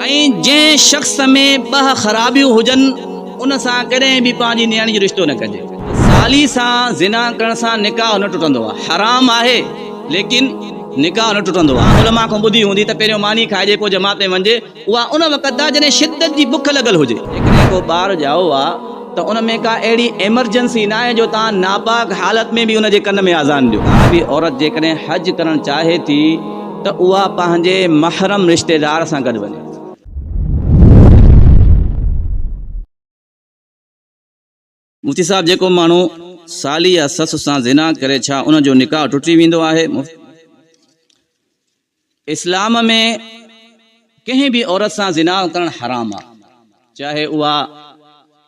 ۽ جنهن شخص ۾ ٻه خرابيون هجن ان سان ڪڏهن به پنهنجي نياڻي جو رشتو نه ڪجي. سالي سان زنا ڪرڻ سان نڪاح نه ٽٽندو آهي. حرام آهي ليڪن نڪاح نه ٽٽندو آهي. علماء کان ٻڌي هوندي ته پهريون ماني کائجي پوء جماعت ۾ وڃجي اها ان وقت آهي جڏهن شدت جي بک لڳل هجي. جيڪڏهن ڪو ٻار ڄائو آهي. ته ان ۾ ڪا اهڙي ايمرجنسي ناهي جو توهان ناپاڪ حالت ۾ به ان جي ڪن ۾ آذان ڏيو. عربي عورت جيڪڏهن حج ڪرڻ چاهي ٿي ته اها پنهنجي محرم رشتيدار سان گڏ وڃي ٿي. مفتي صاحب جيڪو ماڻهو سالي يا سس سان زنا ڪري ڇا ان جو نڪاح ٽٽي ويندو آهي؟ مفتي صاحب جيڪو ماڻهو سالي يا سس سان زنا ڪري ڇا ان جو نڪاح ٽٽي ويندو آهي؟ اسلام ۾ ڪنهن به عورت سان زنا ڪرڻ حرام آهي چاهي اها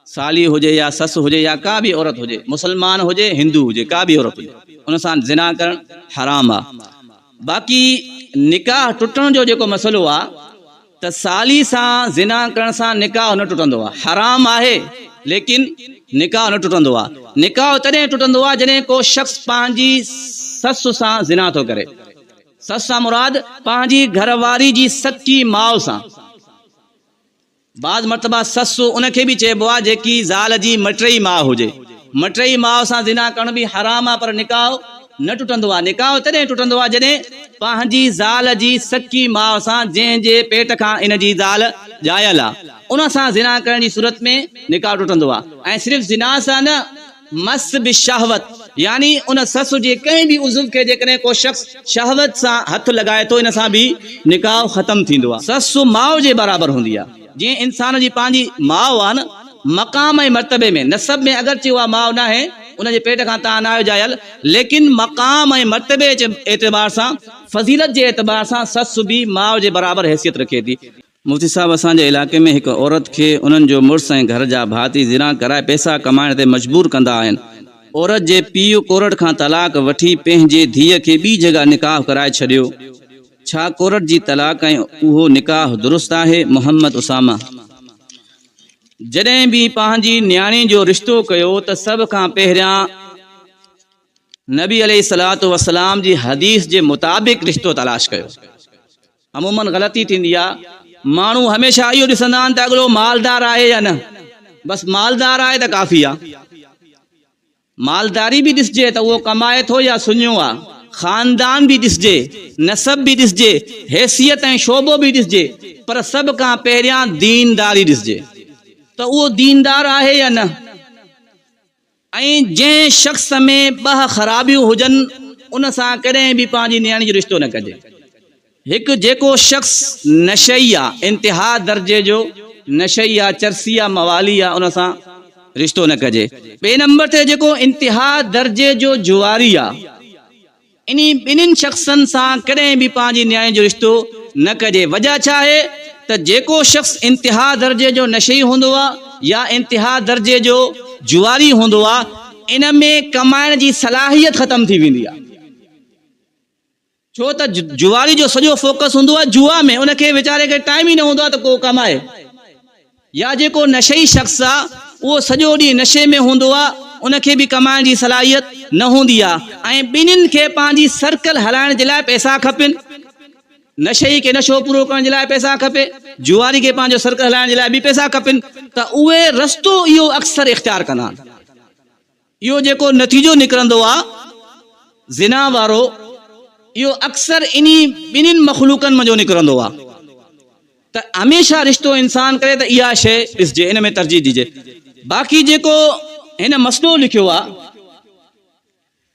سالي هجي يا سس هجي يا ڪا به عورت هجي مسلمان هجي هندو هجي ڪا به عورت هجي ان سان زنا ڪرڻ حرام آهي باقي نڪاح ٽٽڻ جو جيڪو مسئلو آهي ته سالي سان زنا ڪرڻ سان نڪاح نه ٽٽندو آهي حرام آهي ليڪن نڪاح نه ٽٽندو آهي نڪاح تڏهن ٽٽندو آهي جڏهن ڪو شخص پنهنجي سس سان زنا ٿو ڪري سس سان مراد پنهنجي گهر واري جي سچي ماء سان. بعض مرتبا سس ان کي به چئبو آهي جيڪي زال جي مٽيئي ماء هجي. مٽيئي ماء سان زنا ڪرڻ به حرام آهي پر نڪاح نه ٽٽندو آهي. نڪاح تڏهن ٽٽندو آهي جڏهن پنهنجي زال جي سچي ماء سان جنهن جي پيٽ کان ان جي زال ڄايل آهي ان سان زنا ڪرڻ جي صورت ۾ نڪاح ٽٽندو آهي ۽ صرف زنا سان نه مس بالشهوة يعني ان سس جي ڪنهن به عضو کي جيڪڏهن ڪو شخص شهوت سان هٿ لڳائي ٿو ان سان به نڪاح ختم ٿيندو آهي. سس ماء جي برابر هوندي آهي جيئن انسان جي پنهنجي ماء آهي نه مقام ۽ مرتبي ۾ نسب ۾ اگرچه اها ماء ناهي ان جي پيٽ کان تان ناهي ڄايل ليڪن مقام ۽ مرتبي جي اعتبار سان فضيلت جي اعتبار سان سس به ماء جي برابر حيثيت رکي ٿي. مفتي صاحب اسان جي علائقي ۾ هڪ عورت کي انهن جو مڙس ۽ گهر جا ڀاتي زنا ڪرائي پئسا ڪمائڻ تي مجبور ڪندا آهن. عورت جي پيء ڪورٽ کان طلاق وٺي پنهنجي ڌيء کي ٻي جڳهه نڪاح ڪرائي ڇڏيو. ڇا ڪورٽ جي طلاق ۽ اهو نڪاح درست آهي؟ محمد اسامه جڏهن به پنهنجي نياڻي جو رشتو ڪيو ته سڀ کان پهريان نبي عليه الصلوة والسلام جي حديث جي مطابق رشتو تلاش ڪيو. عموماً غلطي ٿيندي آهي، ماڻهو هميشه اهو ڏسندا آهن ته اڳلو مالدار آهي يا نه، بس مالدار آهي ته ڪافي آهي. مالداري به ڏسجي ته اهو ڪمائي ٿو يا سڃو آهي، خاندان به ڏسجي، نسب به ڏسجي، حيثيت ۽ شعبو به ڏسجي، پر سڀ کان پهريان دينداري ڏسجي ته اهو ديندار آهي يا نه. ۽ جنهن شخص ۾ ٻه خرابيون هجن ان سان ڪڏهن به پنهنجي نياڻي جو رشتو نه ڪجي. هڪ جيڪو شخص نشئي آ، انتها درجي جو نشئي آ، چرسي آ، موالي آ ان سان رشتو نه ڪجي. ٻئي نمبر تي جيڪو انتها درجي جو جواري آ. انهي ٻنهين شخصن سان ڪڏهن به پنهنجي نياڻي جو رشتو نه ڪجي، وجهه ڇا آهي ته جيڪو شخص انتها درجي جو نشئي هوندو آهي يا انتها درجي جو جوئاري هوندو آهي ان ۾ ڪمائڻ جي صلاحيت ختم ٿي ويندي آهي ڇو ته جوئاري جو سڄو فوڪس هوندو آهي جوا ۾ ان کي ويچاري کي ٽائيم ئي نه هوندو آهي ته ڪو ڪمائي. يا جيڪو نشئي شخص آ اهو سڄو ڏينهن نشي ۾ هوندو آ ان کي به ڪمائڻ جي صلاحيت نه هوندي آ ۽ ٻنهين کي پنهنجي سرڪل هلائڻ جي لاء پئسا کپين نشئي کي نشو پورو ڪرڻ جي لاء پئسا کپي جوئاري کي پنهنجو سرڪل هلائڻ جي لاء به پئسا کپين ته اهي رستو اهو اڪثر اختيار ڪندا آهن. اهو جيڪو نتيجو نڪرندو آ زنا وارو اهو اڪثر انهي ٻنهين مخلوقن منجهو نڪرندو آ ته هميشه رشتو انسان ڪري ته اها شيء ڏسجي ان ۾ ترجيح ڏجي باقي جيڪو هن مسئلو لکيو آ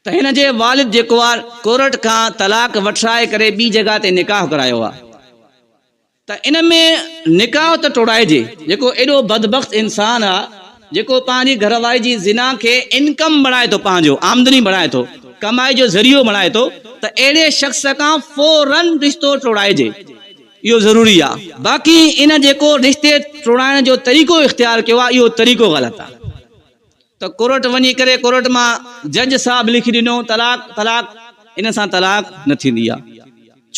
ته هن جي والد جيڪو آ ڪورٽ کان طلاق وٺرائي ڪري ٻي جڳهه تي نڪاح ڪرايو آ ته ان ۾ نڪاح ته ٽوڙائجي جيڪو ايڏو بدبخت انسان آ جيڪو پنهنجي گهرواري جي زنا کي انڪم بڻائي ٿو پنهنجو آمدني بڻائي ٿو ڪمائي جو ذريعو بڻائي ٿو ته اهڙي شخص کان فورا رشتو ٽوڙائجي اهو ضروري آ باقي ان جيڪو رشتي ٽوڙائڻ جو طريقو اختيار ڪيو آ اهو طريقو غلط آ. ته ڪورٽ وڃي ڪري ڪورٽ مان جج صاحب لکي ڏنو طلاق طلاق ان سان طلاق نه ٿيندي آ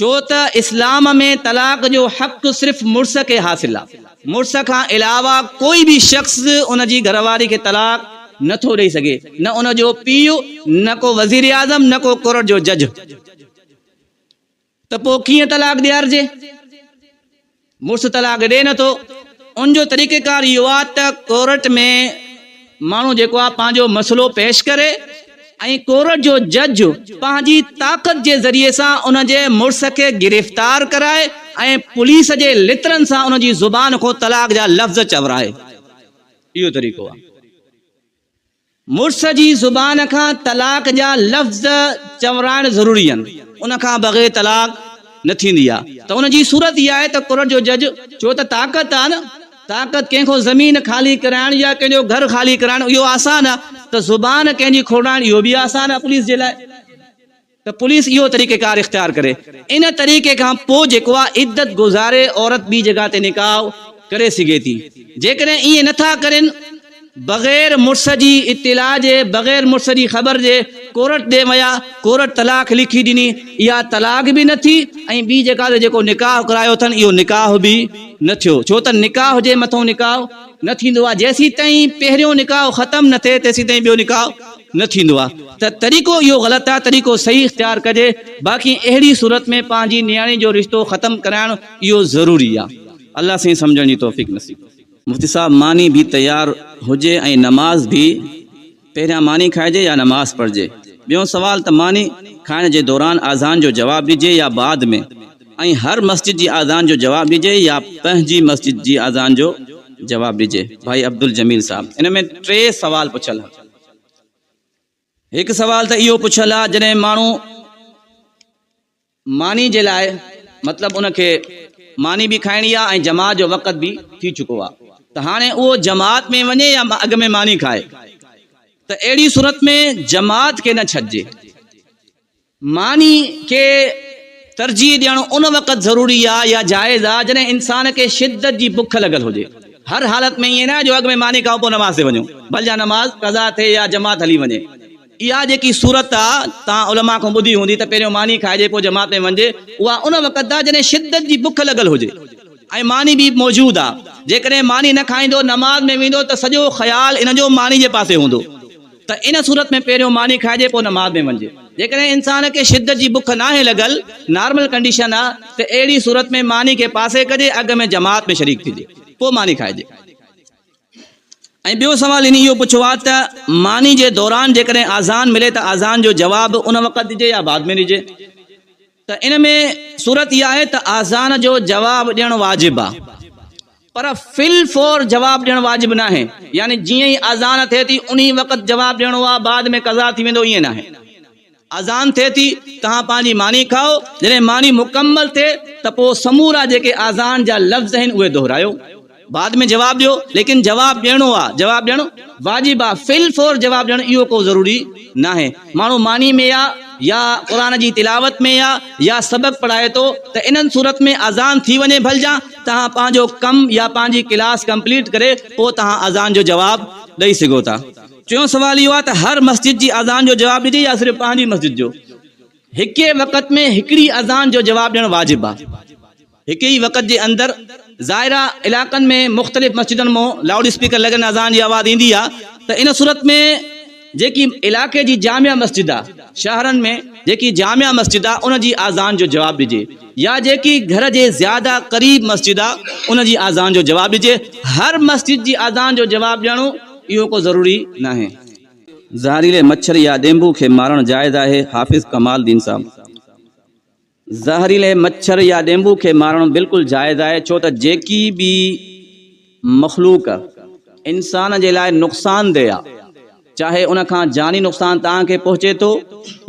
ڇو ته اسلام ۾ طلاق جو حق صرف مڙس کي حاصل آ مڙس کان علاوه ڪوئي به شخص ان جي گهر واري کي طلاق نه ٿو ڏئي سگهي نه ان جو پيء نه ڪو وزير اعظم نه ڪو ڪورٽ جو جج. ته پوء ڪيئن طلاق ڏيارجي؟ مڙس طلاق ڏئي نٿو، ان جو طريقيڪار اهو آهي ته ڪورٽ ۾ ماڻهو جيڪو آهي پنهنجو مسئلو پيش ڪري ۽ ڪورٽ جو جج پنهنجي طاقت جي ذريعي سان ان جي مڙس کي گرفتار ڪرائي ۽ پوليس جي لترن سان ان جي زبان کان طلاق جا لفظ چورائي. اهو طريقو آهي. مڙس جي زبان کان طلاق جا لفظ چورائڻ ضروري آهن، ان کان بغير طلاق نه ٿيندي آهي ته ان جي صورت اها آهي ته ڪورٽ جو جج چوي ته طاقت آهي نه، طاقت ڪنهن کان زمين خالي ڪرائڻ يا ڪنهن جو گهر خالي ڪرائڻ اهو آسان آهي ته زبان ڪنهن جي کوڙائڻ اهو به آسان آهي پوليس جي لاء. ته پوليس اهو طريقيڪار اختيار ڪري. ان طريقي کان پوء جيڪو آ عدت گذاري عورت ٻي جڳهه تي نڪاح ڪري سگهي ٿي. جيڪڏهن ائين نه ٿا ڪرين بغير مڙس جي اطلاع جي، بغير مڙس جي خبر جي ڪورٽ ڏي ويا، ڪورٽ طلاق لکي ڏني، اها طلاق به نه ٿي ۽ ٻي جڳهه تي جيڪو نڪاح ڪرايو اٿن اهو نڪاح به نه ٿيو. ڇو ته نڪاح جي مٿئون نڪاح نه ٿيندو آ. جيسيتائين پهريون نڪاح ختم نه ٿئي تيسيتائين ٻيو نڪاح. نه ٿيندو آ ته طريقو اهو غلط آ طريقو صحيح اختيار ڪجي باقي اهڙي صورت ۾ پنهنجي نياڻي جو رشتو ختم ڪرائڻ اهو ضروري آ الله سائين سمجهڻ جي توفيق نصيب مفتي صاحب ماني ڀي تيار هجي ۽ نماز ڀي پهريان ماني کائجي يا نماز پڙهجي ٻيون سوال ته ماني کائڻ جي دوران آذان جو جواب ڏجي يا بعد ۾ ۽ هر مسجد جي آذان جو جواب ڏجي يا پنهنجي مسجد جي آذان جو جواب ڏجي ڀائي عبدالجميل صاحب ان ۾ ٽي سوال پڇيل ها. هڪ سوال ته اهو پڇيل آهي جڏهن ماڻهو ماني جي لاء مطلب ان کي ماني به کائڻي آهي ۽ جماعت جو وقت به ٿي چڪو آهي ته هاڻي اهو جماعت ۾ وڃي يا اڳ ۾ ماني کائي ته اهڙي صورت ۾ جماعت کي نه ڇڏجي معني کي ترجيح ڏيڻ ان وقت ضروري آ يا جائز آ جڏهن انسان کي شدت جي بک لڳل هجي. هر حالت ۾ ائين ناهي جو اڳ ۾ معني کائون پوء نماز تي وڃون ڀل جا نماز قضا ٿئي يا جماعت هلي وڃي. اها جيڪي صورت آ توهان علماء کان ٻڌي هوندي ته پهريون معني کائجي پوء جماعت ۾ وڃجي اها ان وقت آ جڏهن شدت جي بک لڳل هجي ۽ معني به موجود آ. جيڪڏهن معني نه کائيندو نماز ۾ ويندو ته سڄو خيال ان جو معني جي پاسي هوندو. ته ان صورت ۾ پهريون ماني کائجي پوء نماز ۾ وڃجي. جيڪڏهن انسان کي شدت جي بک ناهي لڳل، نارمل ڪنڊيشن آ، ته اهڙي صورت ۾ ماني کي پاسي ڪجي اڳ ۾ جماعت ۾ شريڪ ٿجي پوء ماني کائجي. ۽ ٻيو سوال هن اهو پڇيو آ ته ماني جي دوران جيڪڏهن آذان ملي ته آذان جو جواب ان وقت ڏجي يا بعد ۾ ڏجي؟ ته ان ۾ صورت اها آهي ته آذان جو جواب ڏيڻ واجب آهي پر في الفور جواب ڏيڻ واجب ناهي يعني جيئن ئي آذان ٿئي ٿي انهي وقت جواب ڏيڻو آهي بعد ۾ قضا ٿي ويندو ائين ناهي آذان ٿئي ٿي توهان پنهنجي ماني کائو جڏهن ماني مڪمل ٿئي ته پوء سمورا جيڪي آذان جا لفظ آهن اهي دهرايو بعد ۾ جواب ڏيو ليڪن جواب ڏيڻو آ جواب ڏيڻ واجب آ في الفور جواب ڏيڻ اهو ڪو ضروري ناهي ماڻهو معني ۾ آ يا قرآن جي تلاوت ۾ آ يا سبق پڙهائي ٿو ته انهن صورت ۾ اذان ٿي وڃي ڀلجان توهان پنهنجو ڪم يا پنهنجي ڪلاس ڪمپليٽ ڪري پوء توهان اذان جو جواب ڏئي سگهو ٿا ٽيون سوال اهو آ ته هر مسجد جي اذان جو جواب ڏجي يا صرف پنهنجي مسجد جو هڪ ئي وقت ۾ هڪڙي اذان جو جواب ڏيڻ واجب آ. هڪ ئي وقت جي اندر زائره علائقن ۾ مختلف مسجدن مون لائوڊ اسپيڪر لڳن اذان جي آواز ايندي آ ته ان صورت ۾ جيڪي علائقي جي جامع مسجد آ شاهرن ۾ جيڪي جامع مسجد آ ان جي آذان جو جواب ڏجي يا جيڪي گهر جي زياده قريب مسجد آ ان جي آذان جو جواب ڏجي هر مسجد جي آذان جو جواب ڏيڻو اهو ڪو ضروري ناهي. زهريلي مڇر يا ڏينڀو کي مارڻ جائز آهي حافظ ڪمال الدين صاحب. زهريلي مڇر يا ڏينڀو کي مارڻ بلڪل جائز آهي ڇو ته جيڪي به مخلوق انسان جي لاء نقصان دهه آهي چاهي ان کان جاني نقصان توهان کي پهچي ٿو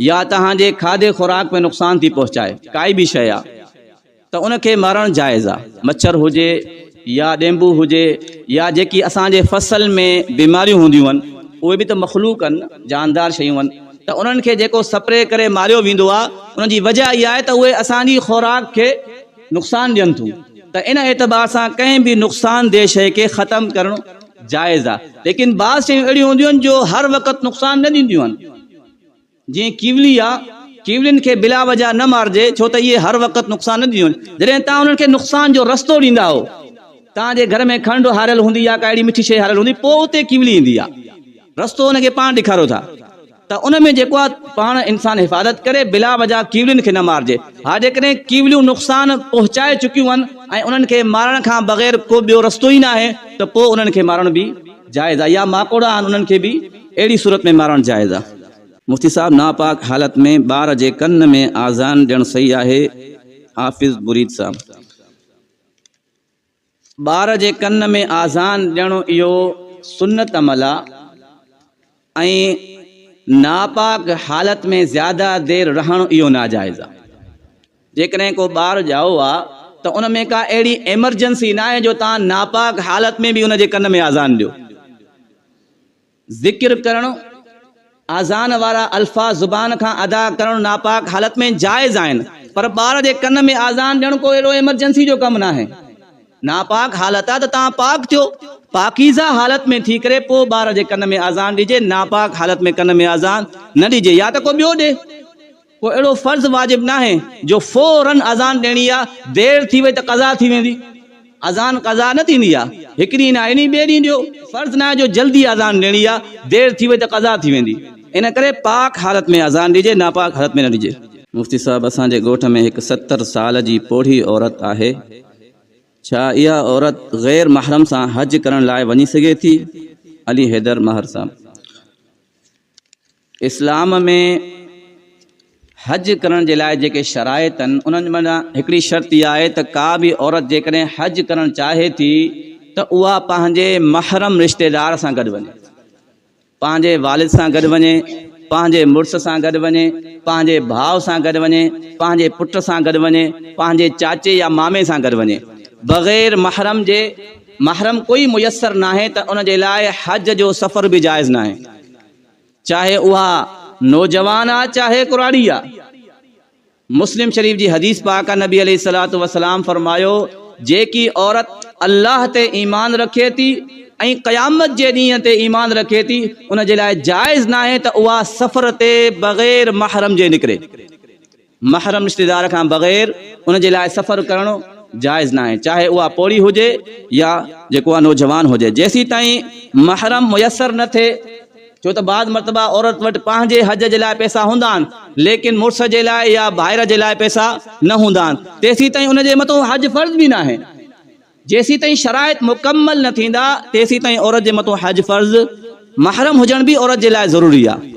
يا توهان جي کاڌي خوراڪ ۾ نقصان ٿي پهچائي ڪائي به شيء آهي ته ان کي مارڻ جائز آهي مڇر هجي يا ڏينڀو هجي يا جيڪي اسان جي فصل ۾ بيماريون هونديون هن اهي به ته مخلوق هن جاندار شيون هن ته انهن کي جيڪو سپري ڪري ماريو ويندو آهي ان جي وجه اها آهي ته اهي اسان جي خوراڪ کي نقصان ڏين ٿيون ته ان اعتبار سان ڪنهن به نقصان دهه شيء کي ختم ڪرڻ جائز آهي ليڪن بعض شيون اهڙيون هونديون هن جو هر وقت نقصان نه ڏينديون هن. جيئن ڪيولي آ، ڪيولين کي بلا وجه نه مارجي، ڇو ته اهي هر وقت نقصان نه ڏينديون آهن. جڏهن توهان انهن کي نقصان جو رستو ڏيندا آهو، توهان جي گهر ۾ کنڊ هاريل هوندي يا ڪا اهڙي مٺي شيء هاريل هوندي، پوء اتي ڪيولي ايندي آ. رستو ان کي پاڻ ڏيکاريو ٿا ته ان ۾ جيڪو آ، پاڻ انسان حفاظت ڪري، بلا وجه ڪيولين کي نه مارجي. ها جيڪڏهن ڪيوليون نقصان پهچائي چڪيون آهن ۽ انهن کي مارڻ کان بغير ڪو ٻيو رستو ئي ناهي ته پوء انهن کي مارڻ به جائز آ يا ماڪوڙا آهن انهن کي به اهڙي صورت ۾ مارڻ جائز آ. مفتي صاحب ناپاڪ حالت ۾ ٻار جي ڪن ۾ آذان ڏيڻ صحيح آهي حافظ بريد صاحب. ٻار جي ڪن ۾ آذان ڏيڻ اهو سنت عمل آ ۽ ناپاڪ حالت ۾ زياده دير رهڻ اهو ناجائز آ. جيڪڏهن ڪو ٻار ڄائو آ ته ان ۾ ڪا اهڙي ايمرجنسي ناهي جو توهان ناپاڪ حالت ۾ به ان جي ڪن ۾ آذان ڏيو. ذڪر ڪرڻ، آذان وارا الفاظ زبان کان ادا ڪرڻ ناپاڪ حالت ۾ جائز آهن پر ٻار جي ڪن ۾ آذان ڏيڻ ڪو اهڙو ايمرجنسي جو ڪم ناهي. ناپاڪ حالت آ ته توهان پاڪ ٿيو، پاڪيزه حالت ۾ ٿي ڪري پوء ٻار جي ڪن ۾ آذان ڏجي، ناپاڪ حالت ۾ ڪن ۾ آذان نه ڏجي يا ته ڪو ٻيو ڏي. ڪو اهڙو فرض واجب ناهي جو فوراً اذان ڏيڻي آ، دير ٿي وئي ته قضا ٿي ويندي، اذان قضا نه ٿيندي آ، هڪ ڏينهن نه ايني ٻئي ڏينهن ڏيو، فرض ناهي جو جلدي اذان ڏيڻي آ، دير ٿي وئي ته قضا ٿي ويندي، ان ڪري پاڪ حالت ۾ اذان ڏجي ناپاڪ حالت ۾ نه ڏجي. مفتي صاحب اسان جي ڳوٺ ۾ هڪ ستر سال جي پوڙهي عورت آهي ڇا اها عورت غير محرم سان حج ڪرڻ لاء وڃي سگهي ٿي؟ علي حيدر ماهر صاحب. اسلام ۾ حج ڪرڻ جي لاء جيڪي شرائط آهن انهن مان هڪڙي شرط اها آهي ته ڪا به عورت جيڪڏهن حج ڪرڻ چاهي ٿي ته اها پنهنجي محرم رشتيدار سان گڏ وڃي پنهنجي والد سان گڏ وڃي پنهنجي مڙس سان گڏ وڃي پنهنجي ڀاء سان گڏ وڃي پنهنجي پٽ سان گڏ وڃي پنهنجي چاچي يا مامي سان گڏ وڃي بغير محرم جي محرم ڪوئي ميسر ناهي ته ان جي لاء حج جو سفر به جائز ناهي چاهي اها نوجوان آ چاهي ڪراڙي آ مسلم شريف جي حديث پاڪ آ نبي عليه الصلاة والسلام فرمايو جيڪي عورت الله تي ايمان رکي ٿي ۽ قيامت جي ڏينهن تي ايمان رکي ٿي ان جي لاء جائز ناهي ته اها سفر تي بغير محرم جي نڪري محرم رشتيدار کان بغير ان جي لاء سفر ڪرڻ جائز ناهي چاهي اها پوڙهي هجي يا جيڪو اها نوجوان هجي جيسيتائين محرم ميسر نه ٿئي ڇو ته بعض مرتبه عورت وٽ پنهنجي حج جي لاء پئسا هوندا آهن ليڪن مڙس جي لاء يا ڀائر جي لاء پئسا نه هوندا آهن تيسيتائين ان جي مٿو حج فرض به ناهي جيسيتائين شرائط مڪمل نه ٿيندا تيسيتائين عورت جي مٿو حج فرض محرم هجڻ به عورت جي لاء ضروري آهي.